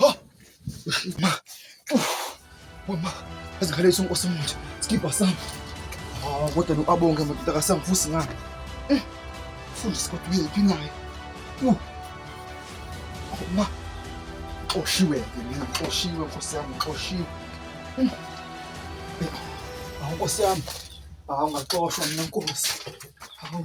Ha! Ma! Uf! Mama! Azikhala iso nkosi manje. Skipper sam. Ah, kodwa lo abonge madoda kasamvusi ngani. Eh! Fundisi kodwa uyephi naye? Uh! Oh, ma! Xoshiwe ke mina, xoshiwe nkosi yami, xoshiwe. Mm. Awu nkosi yami. Awu ngaxoshwa mina nkosi. Awu.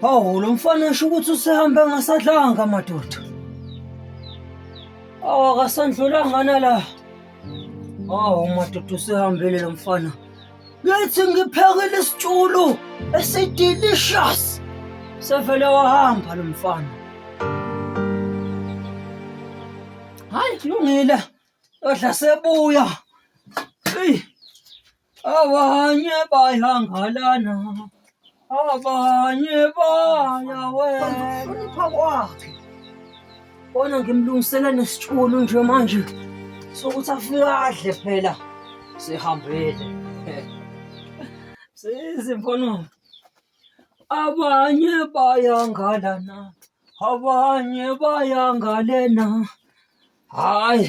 Hawu lo mfana esho ukuthi usehambe ngasadlanga madoda. Awakasandlulanga nala. Hawu madoda usehambile lo mfana. Ngithi ngiphekile isitshulu esidelicious. Sevele wahamba lo mfana. Hayi kulungile. Odla sebuya. Hey. abanye bayangalana abanye bayawehlonipha kwakhe bona ngimlungisela nesitshulu nje manje sokuthi afike adle phela sihambile sezimfono abanye bayangalana abanye bayangalena hayi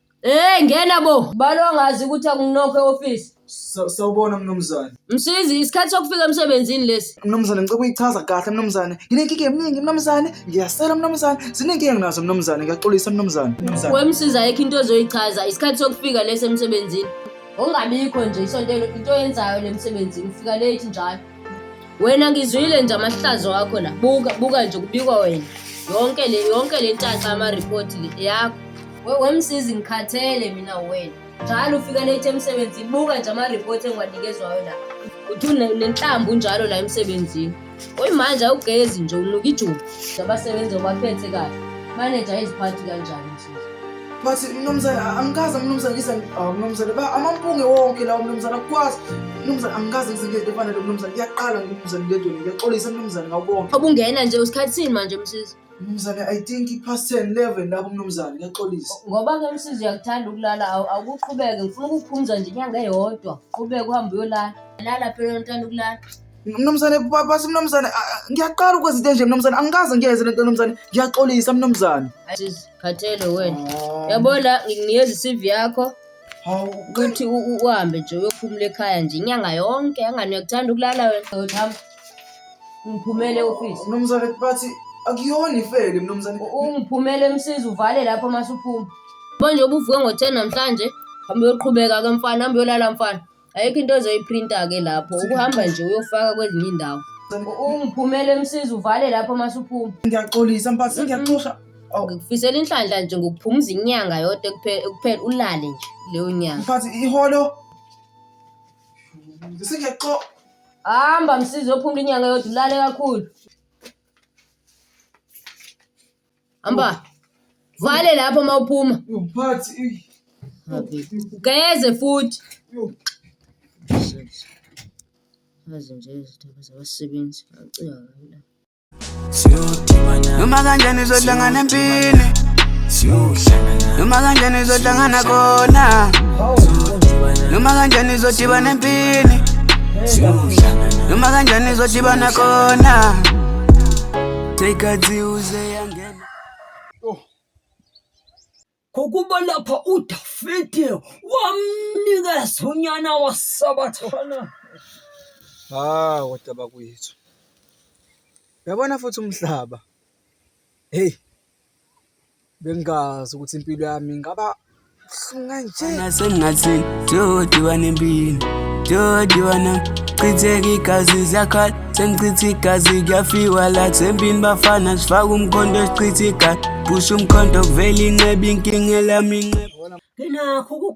Hey ngena bo. Balo angazi ukuthi akunokho eoffice. Sa- Sawubona mnumzane. Msizi isikhathi sokufika emsebenzini lesi. Mnumzane ngicela ukuyichaza kahle mnumzane. Nginenkinga eminingi mnumzane. Ngiyasela mnumzane. Zinenkinga nginazo mnumzane. Ngiyaxolisa mnumzane. Mnumzane. Wemsizi ayikho into ozoyichaza isikhathi sokufika lesi emsebenzini. Ungabikho nje isonto elo- into yenzayo le msebenzini ufika late njalo. Wena ngizwile nje amahlazo wakho la. Buka buka nje kubikwa wena. Yonke le yonke le ntaxa ama report le yakho. We wemsizi ngikhathele mina wena. Njalo ufika late emsebenzini buka nje ama report engiwanikezwayo la. Uthi une- nenhlambu njalo la emsebenzini. Oyimanje awugezi nje unuka ijuba. Abasebenzi obaphethe kahle. Manager iziphathi kanjani? bathi mnumzane angikaze mnumzane ngize ngibhawa mnumzane ba amampunge wonke lawo mnumzane akukwazi mnumzane angikaze ngize ngento efana le mnumzane kuyaqala mnumzane ngedwe ngiyaxolisa mnumzane ngawubonga obungena nje usikhathi sini manje msizi mnumzane i think i-past ten eleven lapho mnumzane ngiyaxolisa ngoba ke msizi uyakuthanda ukulala awu- awukuqhubeke ngifuna ukukuphumza nje inyanga eyodwa qhubeke uhambe uyolala lala phela uthanda ukulala Mnumzane basi mnumzane ngiyaqala ukwenza into enje mnumzane angikaze ngiyenze lento mnumzane ngiyaxolisa mnumzane. Khathele wena. Oh. Yabo la nginikeza iCV yakho. Hawu ukuthi uhambe nje uyophumula ekhaya nje inyanga yonke angani uyakuthanda ukulala wena. Hamba. Ngiphumele office. Mnumzane bathi akuyona ifele mnumzane. Ungiphumele emsiza uvale lapho masuphuma. Manje ubuvuke ngo-10 namhlanje hamba uyoqhubeka ke mfana hamba uyolala mfana. ayikho into ozoyiphrinta-ke lapho ukuhamba nje uyofaka kwezinye indawo ungiphumele emsiza uvale lapho masuphuma ngiyaxolisa mphathi ngiyaxosha ngikufisela inhlanhla nje ngokuphumuza inyanga yodwa kuphela ulale nje leyo nyanga mphathi iholo ngisingiyaxo hamba msiza ophumula inyanga yodwa ulale kakhulu Hamba. Vale lapho uma uphuma. Yo phathi. ey. Okay. Ugeze futhi. Yo. Shit. Mazi nje izithuba zabasebenzi. Ngicika kabi la. noma kanjani uzohlangana empini noma kanjani uzohlangana khona noma kanjani uzodibana empini noma kanjani uzodibana khona Ngokuba oh. lapha uDavide wamnikeza unyana wasabathana. Ah, kodwa bakwethu. Yabona futhi umhlaba. Hey. bengingazi ukuthi impilo yami ingaba buhlungu kanje nasengathi jodiwa nempilo jodiwa na chitheka igazi ziyakhala sengichitha igazi kuyafiwa la sempini bafana sifaka umkhonto sichitha igazi phusha umkhonto kuvela inqeba inkinga elami inqeba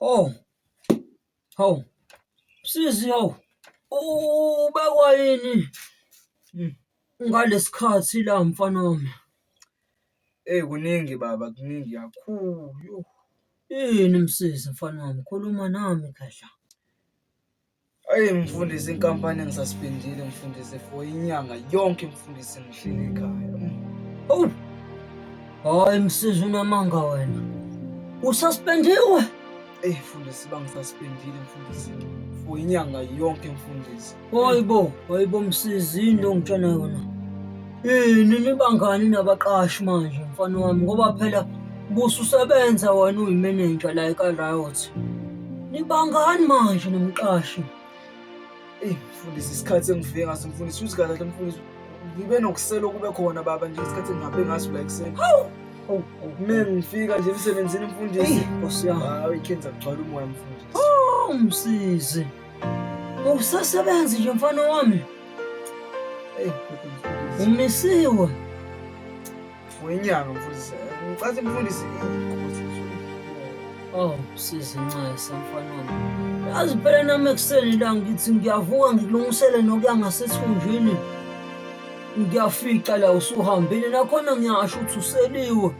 Hawu. Hawu. Sisi hawu. Ubekwa yini? Hmm. Ngalesikhathi la mfana wami. Ey kuningi baba kuningi kakhulu. Yini msisi mfana wami khuluma nami khehla. Ayi mfundisi, inkampani engisaspendile mfundisi for inyanga yonke mfundisi ngihleli ekhaya. Oh. Hayi msizi unamanga wena. Ususpendiwe? Eh mfundisi bangisaspendile mfundisi for inyanga yonke mfundisi. Hayibo, hayibo msizi into ngitshana yona. Yini nibangani nabaqashi manje mfana wami ngoba phela bususebenza wena uyimenenja la eka-Riot. Nibangani manje nomqashi? Eyi mfundisi isikhathi engifike ngaso mfundisi uthi kahle mfundisi ngibe nokusela okube khona baba nje isikhathi engihambe ngaso la ekuseni. Hawu! Hawu, hawu. Uma ngifika nje emsebenzini mfundisi. Eyi, Nkosi yami. Hawu ikhenza kugcwala umoya mfundisi. Awumsizi. Usasebenzi nje mfana wami. umisiwe wenyanga mfundisi ngicathi mfundisi Oh, sisi Ncese mfanami. Yazi phela nami ekuseni la ngithi ngiyavuka ngikulungisele nokuya ngasethunjini. Ngiyafica la usuhambile nakhona ngiyasho ukuthi useliwe.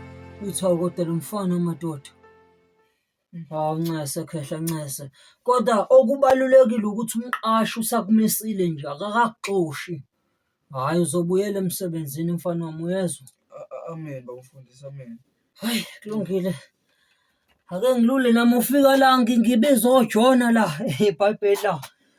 Uthi awu kodwa lo mfana madoda. Hawu Ncese khehla Ncese, kodwa okubalulekile ukuthi umqashi usakumisile nje akakakuxoshi, hhayi uzobuyela emsebenzini mfana wami uyezwa. Amen bawufundisa amen. Hayi kulungile. Ake ngilule nami ufika la ngi- ngibiza ojona la ebhayibheli la.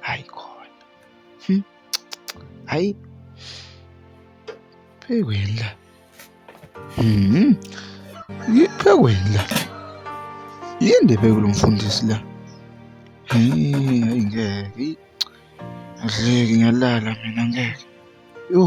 hayi khona hmm. hayi phekweni la hmm. phekweni la yinde phekulu mfundisi la hayi ngeke adleki ngiyalala mina ngeke yho